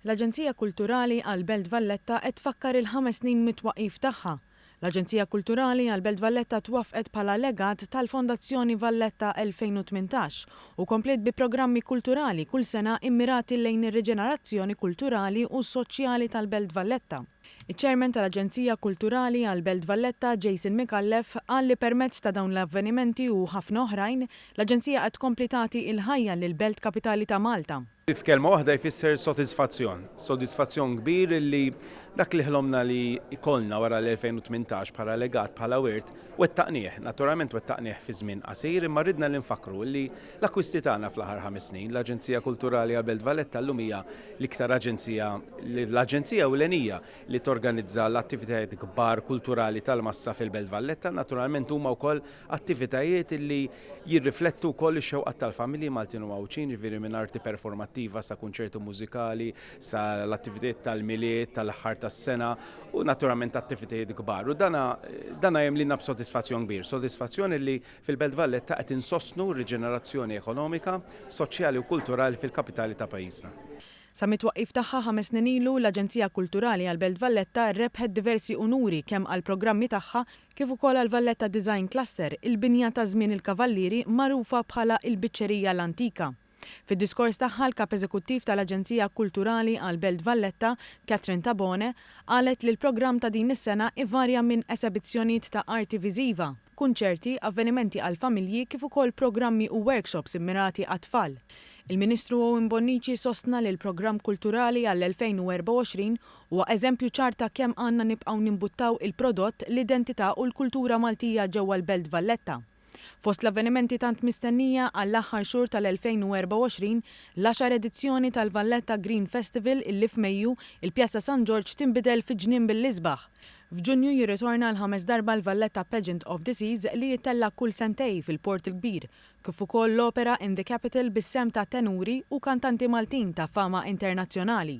L-Aġenzija Kulturali għall-Belt Valletta qed tfakkar il-ħames snin mit-twaqqif tagħha. L-Aġenzija Kulturali għall-Belt Valletta twaffqet bħala legat tal-Fondazzjoni Valletta 2018 u kompliet bi programmi kulturali kull sena immirati lejn ir-riġenerazzjoni kulturali u soċjali tal-Belt Valletta. Iċ-Chairman tal-Aġenzija Kulturali għall-Belt Valletta, Jason Micallef, qal li permezz ta' dawn l-avvenimenti u ħafna oħrajn, l-Aġenzija qed tkompli tagħti il-ħajja lill-Belt Kapitali ta' Malta. li f'kelma waħda jfisser sodisfazzjon. Sodisfazzjon kbir li dak li ħlomna li jkollna wara l-2018 bħala legat, bħala wirt, wettaqnieh. Naturalment wettaqnieh fi żmien qasir imma ridna li nfakkru illi l-akkwisti tagħna fl-aħħar ħames snin, l-Aġenzija Kulturali Abelt Valletta llum hija l-iktar aġenzija, l-aġenzija ewlenija li torganizza l-attivitajiet kbar kulturali tal-massa fil-Belt Valletta, naturalment huma wkoll Attivitajiet li jirriflettu wkoll ix-xewqat tal-familji Maltin u Għawdxin, jiġifieri minn arti performattiva sa kunċerti mużikali, sa l-attivitajiet tal-Milied, tal-aħħar tas-sena u naturalment attivitajiet kbar. U dan dan jimliena b'sodisfazzjon kbir, sodisfazzjon illi fil-Belt Valletta qed insostnu r-riġenerazzjoni ekonomika, soċjali u kulturali fil-kapitali ta' pajjiżna. Sa mit-twaqqif tagħha ħames snin ilu, l-Aġenzija Kulturali għall-Belt Valletta rebħet diversi unuri kemm għall-programmi tagħha kif ukoll għall-Valletta Design Cluster, il-binja ta' żmien il-Kavallieri magħrufa bħala il-Biċċerija l-Antika. Fid-diskors tagħha l-Kap Eżekuttiv tal-Aġenzija Kulturali għall-Belt Valletta, Catherine Tabone, qalet li l-programm ta' din is-sena ivarja minn esebizzjonijiet ta' arti viżiva, kunċerti, avvenimenti għall-familji kif ukoll programmi u workshops immirati għat-tfal. Il-Ministru Owen Bonnici sostna li l-programm kulturali għall-2024 Huwa eżempju ċar ta' kemm għandna nibqgħu nimbuttaw il-prodott, l-identità u l-kultura Maltija ġewwa l-Belt Valletta. Fost l-avvenimenti tant mistennija għall-aħħar xhur tal-2024, l-għaxar edizzjoni tal-Valletta Green Festival illi f'Mejju, il-Pjazza San Ġorġ tinbidel fi ġnien bil-isbaħ. F'Ġunju jirritorna għall-ħames darba l-Valletta Pageant of the Seas li jittella' kull sentej fil-Port il-Kbir, kif ukoll l-opera In the Capital bis-sehem ta' tenuri u kantanti Maltin ta' fama internazzjonali.